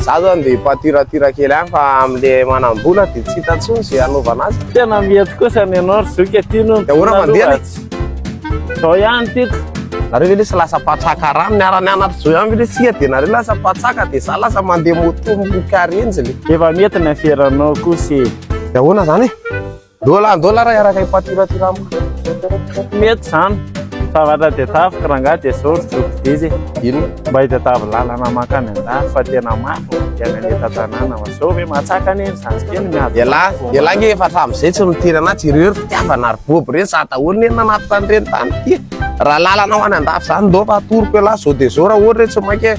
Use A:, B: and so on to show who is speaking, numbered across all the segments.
A: Za zany dia
B: mpatiratira kely ihany fa amle manambola dia tsy hita intsony ze hanaovana azy. Tena mety kosa
A: ny anao ry zoky aty no. Dia ahoana mandeha le?
B: Zao
A: ihany tiko. Nareo ve lesy
B: lasa mpatsaka rano niarany anatry zao ihany ve lesy tsika dia nareo lasa mpatsaka dia za lasa mandeha moto mikarenjy le. Efa mety ny aferanao
A: kosa e. Dia ahoana zany e?
B: Dola dola raha araka i patira ty ramo. Mety
A: zany. Zavatra dia tafika rangaha dia zao ry joky didy e. Ino? Mba
B: itadiavo lalana
A: mankany an-dafy fa tena mafy ny fiainana eto an-tanàna fa zao ve matsaka anie ny zandry kely miady. Elah elah nge efa
B: hatramizay tsy nitery anah tsy ireo ry fitiavana ry bobo ireny za daholo nge nanaty tany ireny tany ty e. Raha lalana ho any an-dafy zany ndao fa atoroko elah zao dia zao raha ohatra hoe tsy maika e.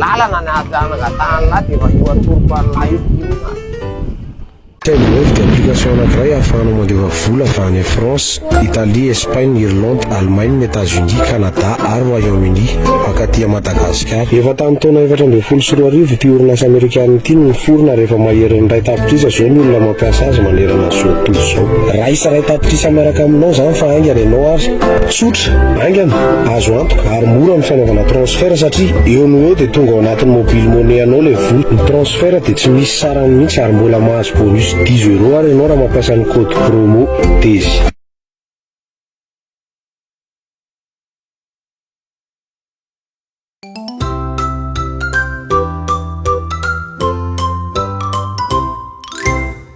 B: lalana ny ady hanangatahana ny lahy dia efa io
C: atoroko an'lahy io finoana. Telo roapy dia application anankiray ahafahanao mandefa vola avy any France, Italie, Espagne, Irlande, Allemagne, Etats-Unis, Canada ary Royaume-Uni mankaty à Madagasikara. Efa tamin'ny taona efatra ambin'ny folo sy roa arivo ity orinasa amerikana ity no niforona ary efa maherin'ny iray tapitrisa izao ny olona mampiasa azy manerana izao tontolo izao. Raisa iray tapitrisa miaraka aminao izany fa haingana ianao ary. Tsotra. Haingana, azo antoka, ary mora ny fanaovana transfert satria eo no eo dia tonga ao anatin'ny mobile money anao ilay vola. Ny transfert dia tsy misy sarany mihitsy ary mbola mahazo bonus dix euros ary ianao raha mampiasa ny code promo TEZY.